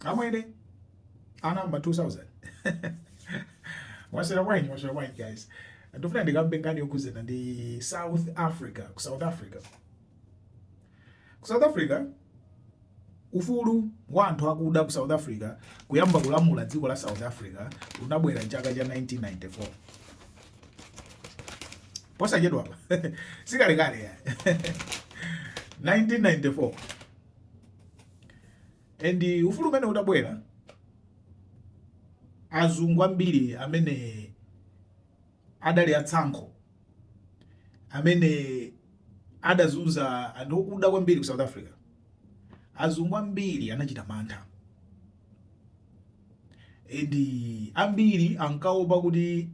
Amwene anamba 2000 mwasera bwanji mwasera bwanji guys ndifuna ndikambe nkhani yokhudzana ndi south africa ku south africa ku south africa ufulu wa anthu akuda ku south africa kuyamba kulamula dziko la south africa unabwera chaka cha 1994 posachedwapa sikalekale 1994 and ufulu umene utabwera azungu ambiri amene adali atsankho amene adazunza anthu okuda kwambiri ku south africa azungu ambiri anachita mantha and ambiri ankaopa kuti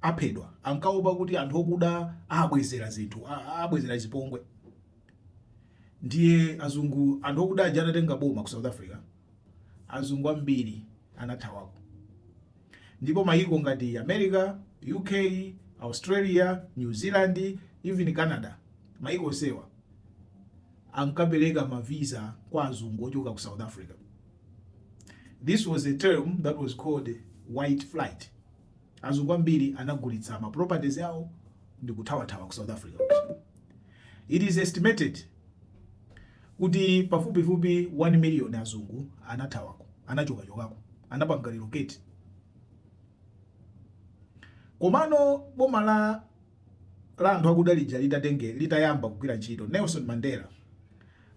aphedwa ankaopa kuti anthu okuda abwezera zinthu a- abwezera zipongwe Ndiye azungu anthu okuda aja anatenga boma ku South Africa, azungu ambiri anathawako. Ndipo mayiko ngati America, UK, Australia, New Zealand, even Canada, mayiko onsewa ankapereka ma visa kwa azungu ochoka ku South Africa. This was a term that was called white flight. Azungu ambiri anagulitsa ma properties awo ndikuthawathawa ku South Africa kuja. It is estimated kuti pafupifupi 1 million azungu anathawako, anachokachokako, anapanga relocate. Komano boma la la anthu akuda lija litatenge litayamba kugwira ntchito, Nelson Mandela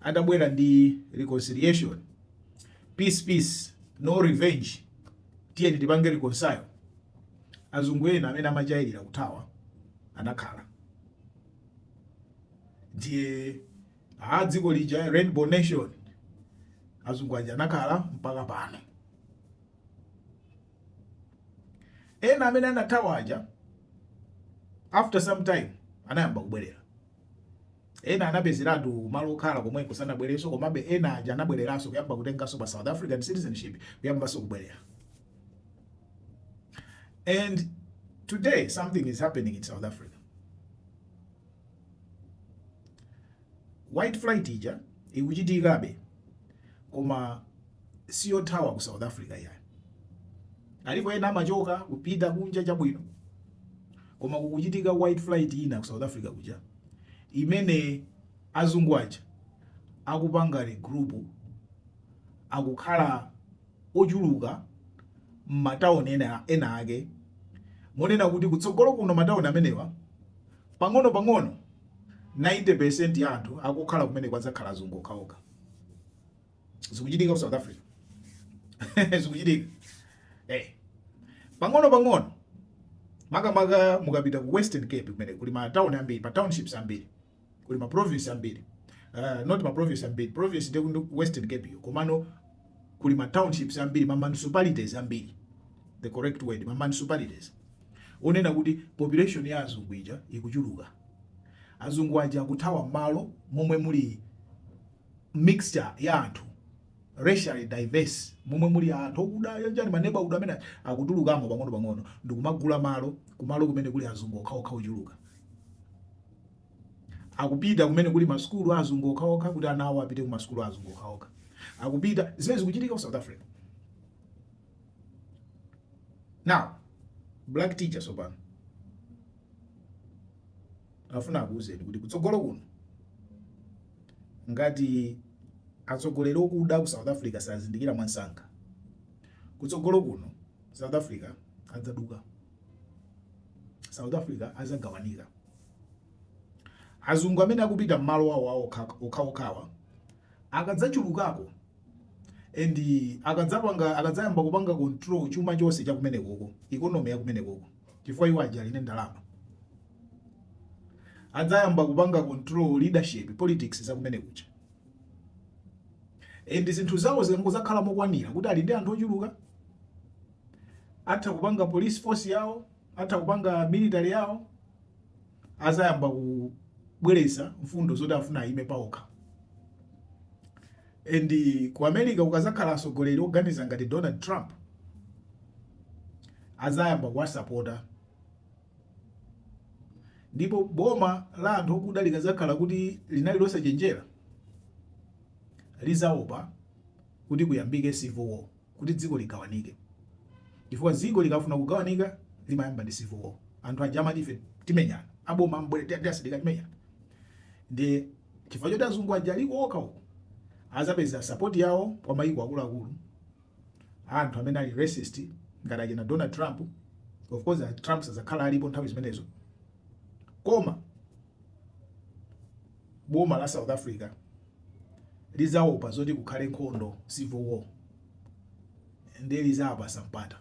adabwera ndi reconciliation, peace peace, no revenge Tiyeni tipange reconcile. Azungu ena amene amachalira kuthawa anakhala ndiye a dziko lija rainbow nation azungu aja anakhala mpaka pano. Ena amene anathawa aja after some time anayamba kubwerera. Ena anapezeratu malo okhala komweko sanabwerenso komabe ena aja anabwereranso kuyamba kutenganso ma South African citizenship kuyambanso kubwerera. And today something is happening in South Africa. White flight ija ikuchitikabe koma siyothawa ku south africa iyayi alipo ena amachoka kupita kunja chabwino koma kukuchitika white flight ina ku south africa kuja imene azungu aja akupanga regroup akukhala ochuluka m'matawuni ena, ena ake monena kuti kutsogolo kuno matawuni amenewa pang'ono pang'ono 90 percent ya anthu akukhala kumeneko adzakhala azungu okhaokha zikuchitika ku South Africa zikuchitika eh pang'ono pang'ono makamaka mukapita ku Western Cape kumene kuli ma town ambiri pa townships ambiri kuli ma province ambiri uh, not ma province ambiri province ndi Western Cape yo komano kuli ma townships ambiri ma municipalities ambiri the correct word ma municipalities muona kuti population ya azungu ija ikuchuluka azungu aja akuthawa malo momwe muli mixture ya anthu racially diverse momwe muli anthu okuda yanjani maneba okuda amene akutulukamo pang'ono pang'ono ndikumagula malo kumalo kumene kuli azungu okhaokha ochuluka akupita kumene kuli masukulu a azungu okhaokha kuti ana awo apite ku masukulu a azungu okhaokha akupita zimene zikuchitika ku south africa now black teachers pano afuna akuuzeni kuti kutsogolo kuno Ngati atsogoleri okuda aku south Africa sazindikira mwamsanga, kutsogolo kuno south Africa adzaduka. South Africa adzagawanika. Azungu amene akupita mmalo awo awo okhaokhawa akadzachulukako and akadzapanga akadzayamba kupanga control chuma chonse chakumenekoko economy yakumenekoko. chifukwa iwo aja ali ndi ndalama adzayamba kupanga control leadership politics za kumene kuja and zinthu zawo zikangozakhala mokwanira kuti ali ndi anthu ochuluka atha kupanga police force yawo atha kupanga military yawo azayamba kubweretsa mfundo zoti afuna ayime paokha And ku America kukazakhala asogoleri oganiza ngati Donald Trump azayamba kuwasapota ndipo boma la anthu okuda likazakhala kuti linali losachenjera lizaopa kuti kuyambike civil war. kuti dziko ligawanike chifukwa ziko likafuna kugawanika limayamba ndi civil war anthu aja amati ife timenyana aboma mubwere ndi ndi asilikali timenyana ndiye chifukwa choti azungu aja aliko okha uko azapeza support yawo kwa mayiko akuluakulu anthu amene ali racist ngati achina donald trump of course a trump sazakhala alipo nthawi zimenezo koma boma la South Africa lizaopa zoti kukhale nkhondo civil war ndiye lizawapasa mpata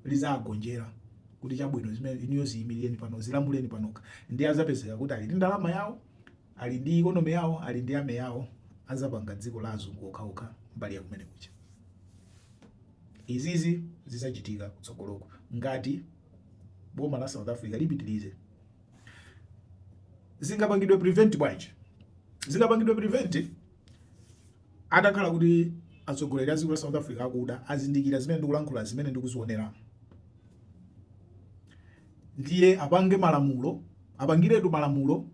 lizagonjera kuti chabwino zimene inuyo ziyimirireni pano zilamulireni panokha ndiye azapezeka kuti ali ndi ndalama yawo ali ndi ikonomi yawo ali ndi army yawo azapanga dziko la azungu okhaokha mbali ya kumene kuja izizi zizachitika kutsogoloko ngati boma la South Africa lipitirize zingapangidwe prevent bwanji zingapangidwe prevent atakhala kuti atsogoleri a dziko la south africa akuda azindikira zimene ndikulankhula zimene ndikuzionera ndiye apange malamulo apangiretu malamulo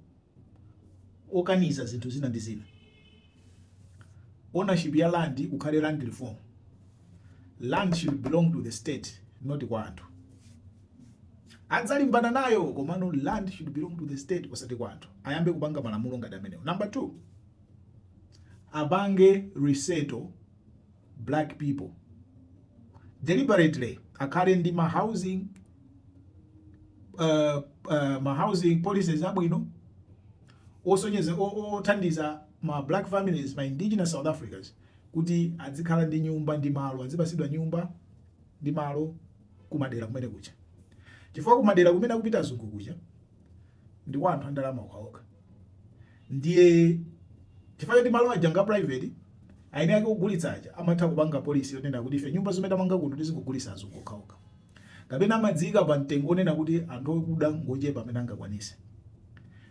okaniza zinthu zina ndi zina ownership ya land kukhale land reform land should belong to the state not kwa anthu adzalimbana nayo komano land should belong to the state osati kwa anthu ayambe kupanga malamulo ngati amenewo number two apange resettle black people deliberately akhale ndi ma housing uh, uh, ma housing policies abwino osonyeza othandiza ma black families ma indigenous south africans kuti adzikhala ndi nyumba ndi malo adzipasidwa nyumba ndi malo kumadera kumene kuja chifukwa kumadera kumene akupita azungu kuja ndi kwa anthu andalama okhaokha ndiye chifukwa choti malo aja nga private aine ake kugulitsa aja amatha kupanga policy yonena kuti ife nyumba zimene tamanga kuno tizingogulitsa azungu okhaokha kapena amadziika pa mtengo onena kuti anthu okuda ngochepa amene angakwanise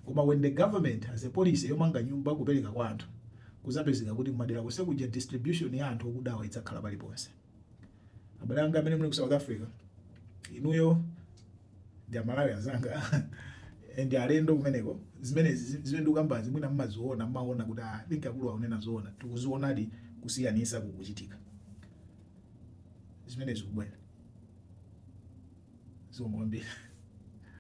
koma when the government has a policy yomanga nyumba kupereka kwa anthu kuzapezeka kuti kumadera konse kuja distribution ya anthu okudawa idzakhala paliponse abale anga amene muli ku south africa inuyo ndi amalawi anzanga ndi alendo kumeneko zimene zi- zimene ndikukambazi mwina mmaziona mmaona kuti ah, I think akulu akunena zoona tikuzionadi kusiyanisa kukuchitika zimene zikubwera zomwe kwambiri